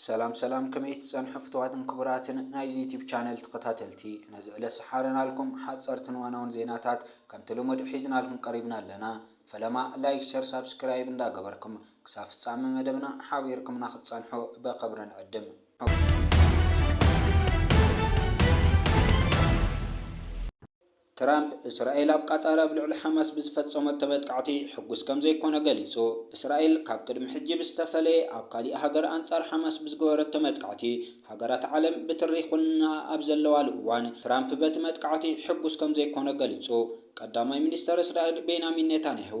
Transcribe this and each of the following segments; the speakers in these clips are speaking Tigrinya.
ሰላም ሰላም ከመይ ትጸንሑ ፍትዋትን ክቡራትን ናይዚ ዩቲብ ቻነል ተኸታተልቲ ነዚ ዕለ ሰሓረናልኩም ሓጸርትን ዋናውን ዜናታት ከምቲ ልሙድ ሒዝናልኩም ቀሪብና ኣለና ፈለማ ላይክ ሸር ሳብስክራይብ እንዳገበርኩም ክሳብ ፍጻሚ መደብና ሓቢርኩምና ክትጸንሑ በኸብሪ ንዕድም ትራምፕ፣ እስራኤል ኣብ ቃጣር ኣብ ልዕሊ ሓማስ ብዝፈጸመቶ መጥቃዕቲ ሕጉስ ከም ዘይኰነ ገሊጹ። እስራኤል ካብ ቅድሚ ሕጂ ብዝተፈለየ ኣብ ካሊእ ሃገር ኣንጻር ሓማስ ብዝገበረቶ መጥቃዕቲ፣ ሃገራት ዓለም ብትሪ ይዅንናኣ ኣብ ዘለዋሉ እዋን፣ ትራምፕ በቲ መጥቃዕቲ ሕጉስ ከም ዘይኰነ ገሊጹ። ቀዳማይ ሚኒስተር እስራኤል ቤንያሚን ኔታንያሁ፣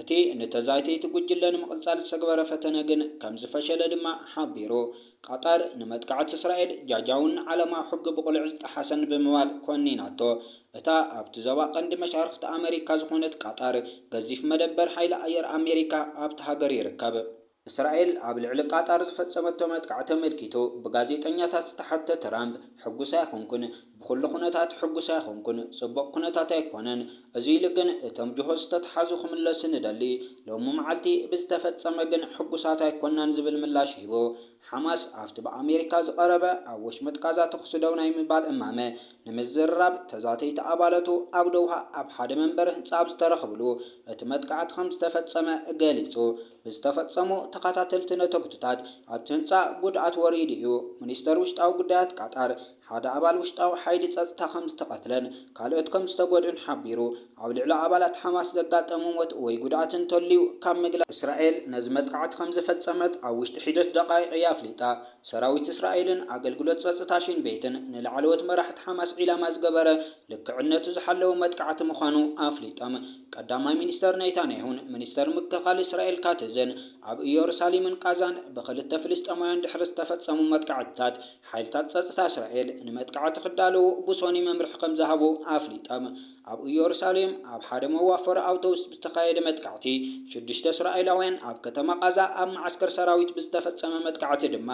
እቲ ንተዛይቲ'ቲ ጉጅለ ንምቕጻል ዝተግበረ ፈተነ ግን ከም ዝፈሸለ ድማ ሓቢሩ። ቐጠር ንመጥቃዕቲ እስራኤል ጃጃውን ንዓለማዊ ሕጊ ብቕሉዕ ዝጠሓሰን ብምባል ኮኒናቶ። እታ ኣብቲ ዞባ ቀንዲ መሻርኽቲ ኣመሪካ ዝኾነት ቐጠር፣ ገዚፍ መደበር ሓይሊ ኣየር ኣሜሪካ ኣብታ ሃገር ይርከብ። እስራኤል ኣብ ልዕሊ ቃጣር ዝፈጸመቶ መጥቃዕቲ ኣመልኪቱ ብጋዜጠኛታት ዝተሓትተ ትራምፕ፣ ሕጉስ ኣይኮንኩን፣ ብኹሉ ኩነታት ሕጉስ ኣይኮንኩን፣ ጽቡቕ ኩነታት ኣይኮነን፣ እዚ ኢሉ ግን እቶም ጅሆ ዝተትሓዙ ክምለሱ ንደሊ፣ ሎሚ መዓልቲ ብዝተፈጸመ ግን ሕጉሳት ኣይኮናን ዝብል ምላሽ ሂቡ። ሓማስ ኣብቲ ብኣሜሪካ ዝቐረበ ኣብ ወሽመጥ ቃዛ ተኹሲ ደው ናይ ምባል እማመ ንምዝርራብ ተዛተይቲ ኣባለቱ ኣብ ዶውሃ ኣብ ሓደ መንበሪ ህንጻ ኣብ ዝተረኽብሉ እቲ መጥቃዕቲ ከምዝተፈጸመ ገሊጹ። ብዝተፈጸሙ ተኸታተልቲ ነተጉትታት ኣብቲ ህንጻ ጉድኣት ወሪዱ እዩ። ሚኒስተር ውሽጣዊ ጉዳያት ቃጣር፣ ሓደ ኣባል ውሽጣዊ ሓይሊ ጸጥታ ከም ዝተቐትለን ካልኦት ከም ዝተጎድኡን ሓቢሩ፣ ኣብ ልዕሊ ኣባላት ሓማስ ዘጋጠሙ ሞት ወይ ጉድኣት እንተልዩ ካብ ምግላጽ። እስራኤል ነዚ መጥቓዕቲ ከም ዝፈጸመት ኣብ ውሽጢ ሒደት ደቓይቕ እያ ኣፍሊጣ። ሰራዊት እስራኤልን ኣገልግሎት ጸጥታ ሺን ቤትን ንላዕለዎት መራሕቲ ሓማስ ዒላማ ዝገበረ ልክዕነቱ ዝሓለወ መጥቃዕቲ ምዃኑ ኣፍሊጦም። ቀዳማይ ሚኒስተር ኔታንያሁን ሚኒስተር ምክልኻል እስራኤል ካትዝን ኣብ እዮሩሳሊምን ቓዛን ብኽልተ ፍልስጤማውያን ድሕሪ ዝተፈጸሙ መጥቃዕትታት ሓይልታት ጸጥታ እስራኤል ንመጥቃዕቲ ክዳለዉ ብሶኒ መምርሒ ከም ዝሃቡ ኣፍሊጦም። ኣብ እዮሩሳሌም ኣብ ሓደ መዋፈሪ ኣውቶቡስ ብዝተኻየደ መጥቃዕቲ ሽዱሽተ እስራኤላውያን ኣብ ከተማ ቓዛ ኣብ መዓስከር ሰራዊት ብዝተፈጸመ መጥቃዕቲ ድማ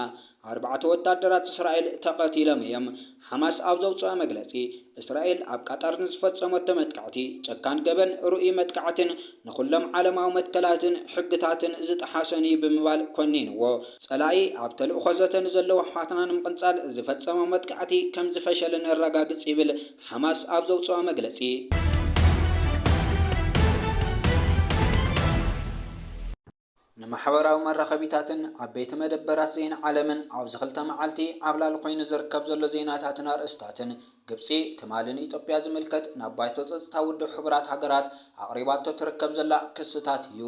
ኣርባዕተ ወታደራት እስራኤል ተቐቲሎም እዮም። ሓማስ ኣብ ዘውጽኦ መግለጺ፣ እስራኤል ኣብ ቃጣር ንዝፈጸመቶ መጥቃዕቲ፣ ጨካን ገበን፣ ርኡይ መጥቃዕትን ንኹሎም ዓለማዊ መትከላትን ሕግታትን ዝጠሓሰን እዩ ብምባል ኮኒንዎ። ጸላኢ ኣብ ተልእኾ ዘተ ንዘለዉ ኣሕዋትና ንምቕንጻል ዝፈጸሞ መጥቃዕቲ ከም ዝፈሸለ ነረጋግጽ ይብል ሓማስ ኣብ ዘውጽኦ መግለጺ። ንማሕበራዊ መራኸቢታትን ዓበይቲ መደበራት ዜና ዓለምን ኣብዚ ክልተ መዓልቲ ዓብላሊ ኮይኑ ዝርከብ ዘሎ ዜናታትን ኣርእስታትን ግብጺ ትማሊ ንኢትዮጵያ ዝምልከት ናብ ባይቶ ጸጥታ ውድብ ሕቡራት ሃገራት ኣቕሪባቶ ትርከብ ዘላ ክስታት እዩ።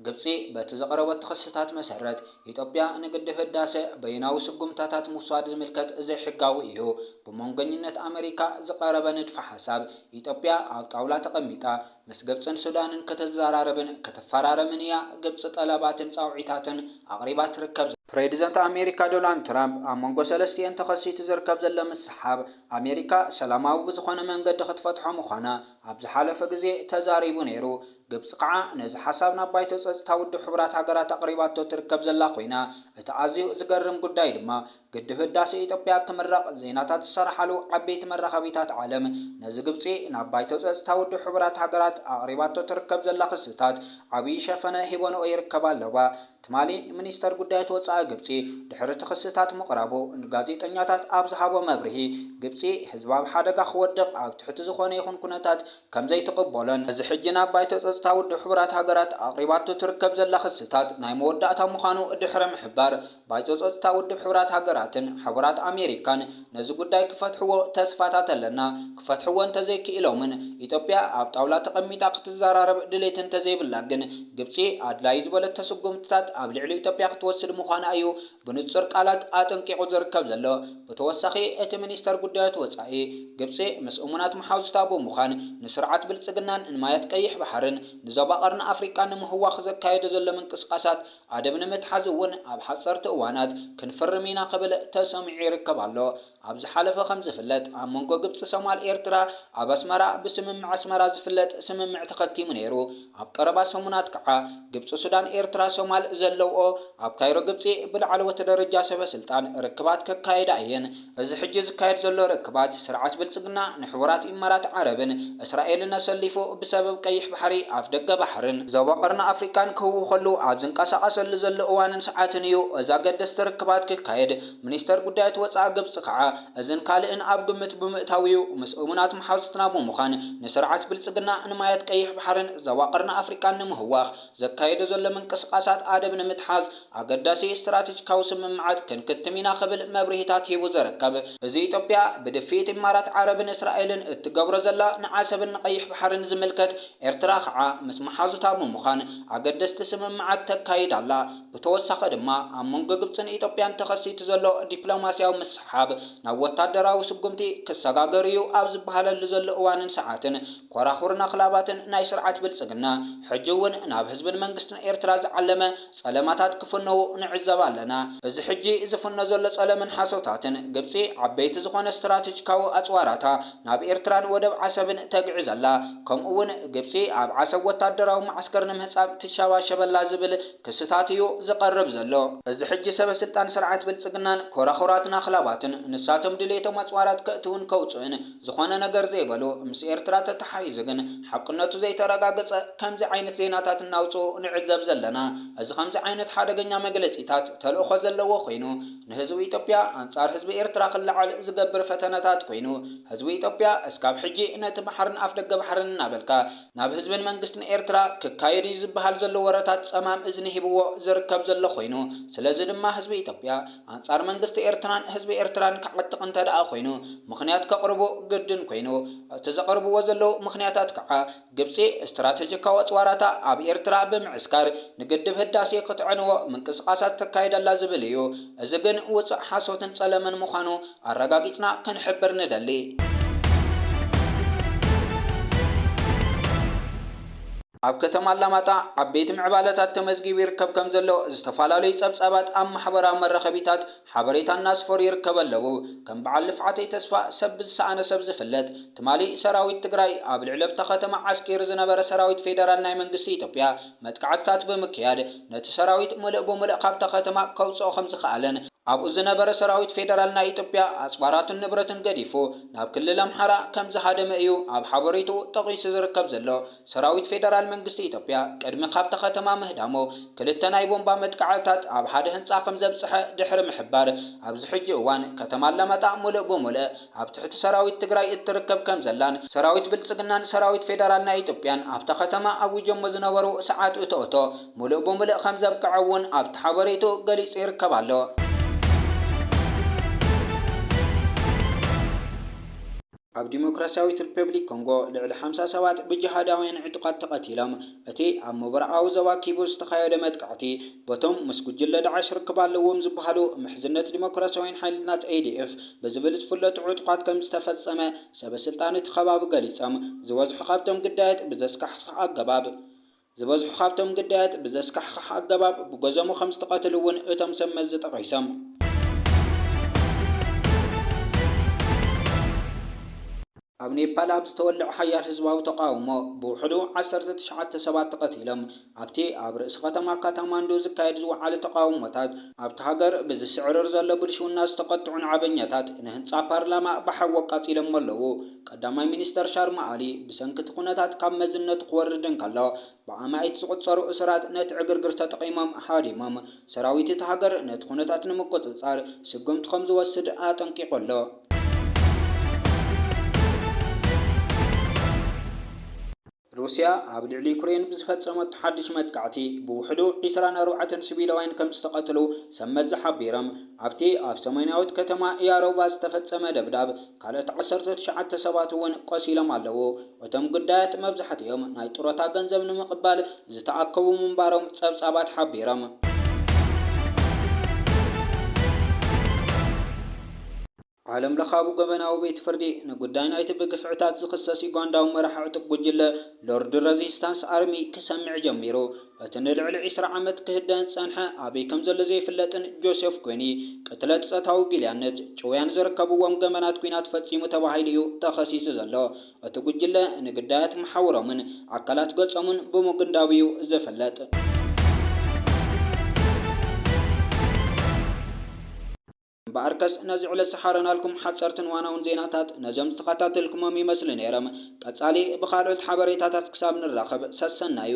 ግብጺ በቲ ዘቕረበቶ ክስታት መሰረት ኢትዮጵያ ንግድብ ህዳሰ በይናዊ ስጉምታታት ምውሳድ ዝምልከት ዘይሕጋዊ እዩ ብመንጎኝነት ኣመሪካ ዝቐረበ ንድፈ ሓሳብ ኢትዮጵያ ኣብ ጣውላ ተቐሚጣ ምስ ግብጽን ሱዳንን ክትዘራረብን ክትፈራረምን እያ ግብጺ ጠለባትን ጻውዒታትን ኣቕሪባ ትርከብ። ፕሬዚደንት ኣሜሪካ ዶላንድ ትራምፕ ኣብ መንጎ ሰለስቲኤን ተኸሲቱ ዝርከብ ዘሎ ምስሕሓብ ኣሜሪካ ሰላማዊ ብዝኾነ መንገዲ ክትፈትሖ ምዃና ኣብ ዝሓለፈ ግዜ ተዛሪቡ ነይሩ። ግብጺ ከዓ ነዚ ሓሳብ ናብ ባይቶ ጸጽታ ውድብ ሕቡራት ሃገራት ኣቕሪባቶ ትርከብ ዘላ ኮይና እቲ ኣዝዩ ዝገርም ጉዳይ ድማ ግድብ ህዳሴ ኢትዮጵያ ክምረቕ ዜናታት ዝሰራሓሉ ዓበይቲ መራኸቢታት ዓለም ነዚ ግብፂ ናብ ባይቶ ፀፅታ ውድብ ሕቡራት ሃገራት ኣቕሪባቶ ትርከብ ዘላ ክስታት ዓብዪ ሸፈነ ሂቦንኦ ይርከባ ኣለዋ። ትማሊ ሚኒስተር ጉዳያት ወፃኢ ግብፂ ድሕሪ እቲ ክስታት ምቕራቡ ንጋዜጠኛታት ኣብ ዝሃቦ መብርሂ ግብፂ ህዝባ ኣብ ሓደጋ ክወድቕ ኣብ ትሕቲ ዝኾነ ይኹን ኩነታት ከምዘይትቕበሎን እዚ ሕጂ ናብ ባይቶ ፀፅታ ውድብ ሕቡራት ሃገራት ኣቕሪባቶ ትርከብ ዘላ ክስታት ናይ መወዳእታ ምዃኑ ድሕሪ ምሕባር ባይቶ ጸጥታ ውድብ ሕቡራት ሃገራትን ሕቡራት ኣሜሪካን ነዚ ጉዳይ ክፈትሕዎ ተስፋታት ኣለና፣ ክፈትሕዎ እንተዘይክኢሎምን ኢትዮጵያ ኣብ ጣውላ ተቐሚጣ ክትዘራረብ ድሌት እንተዘይብላ ግን ግብጺ ኣድላዩ ዝበለቶ ስጉምትታት ኣብ ልዕሊ ኢትዮጵያ ክትወስድ ምዃና እዩ ብንጹር ቃላት ኣጠንቂቑ ዝርከብ ዘሎ። ብተወሳኺ እቲ ሚኒስተር ጉዳያት ወጻኢ፣ ግብጺ ምስ እሙናት መሓዙታ ብምዃን ንስርዓት ብልጽግናን ንማያት ቀይሕ ባሕርን ንዞባ ቀርኒ ኣፍሪቃን ንምህዋኽ ዘካየዶ ዘሎ ምንቅስቓሳት ኣደብ ንምትሓዝ እውን ኣብ ሓፀርቲ እዋናት ክንፍርም ኢና ክብል ተሰሚዑ ይርከብ ኣሎ። ኣብ ዝሓለፈ ከምዝፍለጥ ኣብ መንጎ ግብፂ ሶማል ኤርትራ ኣብ ኣስመራ ብስምምዕ ኣስመራ ዝፍለጥ ስምምዕ ተኸቲሙ ነይሩ። ኣብ ቀረባ ሰሙናት ከዓ ግብፂ ሱዳን ኤርትራ ሶማል ዘለውኦ ኣብ ካይሮ ግብፂ ብላዕለዎት ደረጃ ሰበስልጣን ርክባት ከካይዳ እየን። እዚ ሕጂ ዝካየድ ዘሎ ርክባት፣ ስርዓት ብልጽግና ንሕቡራት ኢማራት ዓረብን እስራኤልን ኣሰሊፉ ብሰበብ ቀይሕ ባሕሪ፣ ኣፍደገ ባሕርን፣ ዞባ ቀርኒ ኣፍሪቃን ክህውኸሉ ኣብ ዝንቀሳቐሰሉ ዘሎ እዋንን ሰዓትን እዩ እዚ ኣገደስቲ ርክባት ክካየድ። ሚኒስተር ጉዳያት ወጻኢ ግብጺ ከኣ እዝን ካልእን ኣብ ግምት ብምእታው'ዩ ምስ እሙናት መሓዙትና ብምዃን ንስርዓት ብልጽግና ንማያት ቀይሕ ባሕርን ዞባ ቀርኒ ኣፍሪቃን ንምህዋኽ ዘካየዶ ዘሎ ምንቅስቓሳት ኣደብ ንምትሓዝ ኣገዳሲ ስትራቴጂካዊ ስምምዓት ክንክትም ኢና ክብል መብርሂታት ሂቡ ዝርከብ እዚ ኢትዮጵያ ብድፍኢት ኢማራት ዓረብን እስራኤልን እትገብሮ ዘላ ንዓሰብን ንቀይሕ ባሕርን ዝምልከት ኤርትራ ከዓ ምስ መሓዙታ ብምዃን ኣገደስቲ ስምምዓት ተካይድ ኣላ ብተወሳኺ ድማ ኣብ መንጎ ግብፅን ኢትዮጵያን ተኸሲቱ ዘሎ ዲፕሎማሲያዊ ምስሕሓብ ናብ ወታደራዊ ስጉምቲ ክሰጋገር እዩ ኣብ ዝበሃለሉ ዘሎ እዋንን ሰዓትን ኮራኹርን ኣኽላባትን ናይ ስርዓት ብልጽግና፣ ሕጂ እውን ናብ ህዝብን መንግስትን ኤርትራ ዝዓለመ ጸለማታት ክፍነዉ ንዕዘብ ኣለና። እዚ ሕጂ ዝፍኖ ዘሎ ጸለምን ሓሶታትን፣ ግብጺ ዓበይቲ ዝኾነ ስትራተጂካዊ ኣጽዋራታ ናብ ኤርትራን ወደብ ዓሰብን ተግዕዝ ኣላ፣ ከምኡ እውን ግብጺ ኣብ ዓሰብ ወታደራዊ መዓስከር ንምህጻብ ትሸባሸብ ኣላ ዝብል ክስታት እዩ ዝቐርብ ዘሎ። እዚ ሕጂ ሰበስልጣን ስርዓት ብልጽግናን ኮራኹራትን ኣኽላባትን፣ ንሳቶም ድሌቶም ኣጽዋራት ከእትዉን ከውጽኡን፣ ዝኾነ ነገር ዘይበሉ፣ ምስ ኤርትራ ተተሓሒዙ ግን ሓቅነቱ ዘይተረጋገጸ ከምዚ ዓይነት ዜናታት እናውጽኡ ንዕዘብ ዘለና። እዚ ከምዚ ዓይነት ሓደገኛ መግለጺታት ተልእኾ ዘለዎ ኮይኑ ንህዝቢ ኢትዮጵያ ኣንጻር ህዝቢ ኤርትራ ክለዓል ዝገብር ፈተነታት ኮይኑ ህዝቢ ኢትዮጵያ እስካብ ሕጂ ነቲ ባሕርን ኣፍደገ ባሕርን እናበልካ ናብ ህዝብን መንግስትን ኤርትራ ክካየድ እዩ ዝበሃል ዘሎ ወረታት ጸማም እዝኒ ሂብዎ ዝርከብ ዘሎ ኮይኑ ስለዚ ድማ ህዝቢ ኢትዮጵያ ኣንጻር መንግስቲ ኤርትራን ህዝቢ ኤርትራን ክዓጥቕ እንተድኣ ኮይኑ ምኽንያት ከቕርቡ ግድን ኮይኑ። እቲ ዘቕርብዎ ዘለዉ ምኽንያታት ከኣ ግብጺ ስትራተጂካዊ ኣጽዋራታ ኣብ ኤርትራ ብምዕስካር ንግድብ ህዳሴ ክትዕንዎ ምንቅስቓሳት ተካይድ ኣላ ዝብል እዩ። እዚ ግን ውጹእ ሓሶትን ጸለመን ምዃኑ ኣረጋጊጽና ክንሕብር ንደሊ። ኣብ ከተማ ኣላማጣ ዓበይቲ ምዕባለታት ተመዝጊቡ ይርከብ ከም ዘሎ ዝተፋላለዩ ፀብፃባት ኣብ ማሕበራዊ መራኸቢታት ሓበሬታ እናስፈሩ ይርከበ ኣለዉ። ከም በዓል ልፍዓተይ ተስፋ ሰብ ብዝሰኣነ ሰብ ዝፍለጥ ትማሊ ሰራዊት ትግራይ ኣብ ልዕሊብታ ከተማ ዓስኪሩ ዝነበረ ሰራዊት ፌደራል ናይ መንግስቲ ኢትዮጵያ መጥቃዕትታት ብምክያድ ነቲ ሰራዊት ሙልእ ብሙልእ ካብታ ከተማ ከውፅኦ ከም ዝኸኣለን ኣብኡ ዝነበረ ሰራዊት ፌደራል ናይ ኢትዮጵያ ኣፅዋራቱን ንብረቱን ገዲፉ ናብ ክልል ኣምሓራ ከም ዝሃደመ እዩ ኣብ ሓበሬትኡ ጠቒሱ ዝርከብ ዘሎ። ሰራዊት ፌደራል መንግስቲ ኢትዮጵያ ቅድሚ ካብታ ከተማ ምህዳሙ ክልተ ናይ ቦምባ መጥቃዕትታት ኣብ ሓደ ህንጻ ከምዘብጽሐ ድሕሪ ምሕባር፣ ኣብዚ ሕጂ እዋን ከተማ ኣላማጣ ሙሉእ ብሙልእ ኣብ ትሕቲ ሰራዊት ትግራይ እትርከብ ከምዘላን፣ ሰራዊት ብልጽግናን ሰራዊት ፌደራል ናይ ኢትዮጵያን ኣብታ ከተማ ኣዊጆሞ ዝነበሩ ሰዓት እቶእቶ ሙሉእ ብሙልእ ከምዘብቅዐ እውን ኣብቲ ሓበሬትኡ ገሊጹ ይርከብ ኣሎ። ኣብ ዲሞክራስያዊት ሪፐብሊክ ኮንጎ ልዕሊ ሓምሳ ሰባት ብጂሃዳውያን ዕጡቓት ተቐቲሎም። እቲ ኣብ ምብራቓዊ ዞባ ኪቡ ዝተኻየደ መጥቃዕቲ፣ በቶም ምስ ጉጅለ ዳዕሽ ርክብ ኣለዎም ዝበሃሉ ምሕዝነት ዲሞክራስያውያን ሓይልታት፣ ኤዲኤፍ፣ ብዝብል ዝፍለጡ ዕጡቓት ከም ዝተፈጸመ ሰበስልጣን እቲ ከባቢ ገሊጾም። ዝበዝሑ ካብቶም ግዳያት ብዘስካሕክሕ ኣገባብ። ዝበዝሑ ካብቶም ግዳያት ብዘስካሕኽሕ ኣገባብ ብገዘሙ ከም ዝተቐትሉ እውን እቶም ሰብ መዚ ጠቒሶም። ኣብ ኔፓል ኣብ ዝተወልዐ ሓያል ህዝባዊ ተቓውሞ ብውሕዱ ዓሰርተ ትሽዓተ ሰባት ተቐቲሎም። ኣብቲ ኣብ ርእሲ ከተማ ካታማንዱ ዝካየድ ዝወዓለ ተቓውሞታት፣ ኣብታ ሃገር ብዝስዕርር ዘሎ ብልሽውና ዝተቘጥዑ ናዕበኛታት ንህንጻ ፓርላማ ብሓዊ ኣቃጺሎሞ ኣለዉ። ቀዳማይ ሚኒስተር ሻርማ ኣሊ፣ ብሰንኪ እቲ ኩነታት ካብ መዝነቱ ክወርድ እንከሎ፣ ብኣማኢት ዝቑጸሩ እሱራት ነቲ ዕግርግር ተጠቒሞም ሃዲሞም። ሰራዊት እታ ሃገር ነቲ ኩነታት ንምቁጽጻር ስጉምቲ ከም ዝወስድ ኣጠንቂቑ ኣሎ። ሩስያ ኣብ ልዕሊ ዩክሬን ብዝፈጸመቶ ሓድሽ መጥቃዕቲ ብውሕዱ ዕስራን ኣርባዕተን ሲቪላውያን ከምዝተቐትሉ ሰብ መዚ ሓቢሮም። ኣብቲ ኣብ ሰሜናዊት ከተማ ያሮቫ ዝተፈጸመ ደብዳብ ካልኦት ዓሰርተ ትሽዓተ ሰባት እውን ቆሲሎም ኣለዉ። እቶም ግዳያት መብዛሕትኦም ናይ ጡረታ ገንዘብ ንምቕባል ዝተኣከቡ ምንባሮም ጸብጻባት ሓቢሮም። ዓለምለኻዊ ገበናዊ ቤት ፍርዲ፣ ንጉዳይ ናይቲ ብግፍዕታት ዝኽሰስ ዩጋንዳዊ መራሒ ዕጡቕ ጉጅለ ሎርድ ረዚስታንስ ኣርሚ ክሰምዕ ጀሚሩ። እቲ ንልዕሊ ዕስራ ዓመት ክህደን ዝጸንሐ፣ ኣበይ ከም ዘሎ ዘይፍለጥን ጆሴፍ ኮኒ፣ ቅትለት፣ ጾታዊ ጊልያነት፣ ጭውያን ዝርከብዎም ገበናት ኲናት ፈጺሙ ተባሂሉ'ዩ ተኸሲሱ ዘሎ። እቲ ጉጅለ፣ ንግዳያት መሓውሮምን ኣካላት ገጾምን ብምጉንዳው'ዩ ዝፍለጥ። እምበኣርከስ ነዚ ዕለት ዝሓረናልኩም ሓጸርትን ዋናውን ዜናታት ነዞም ዝተኸታተልኩሞም ይመስሉ ነይሮም። ቀጻሊ ብኻልኦት ሓበሬታታት ክሳብ ንራኸብ ሰሰናዩ።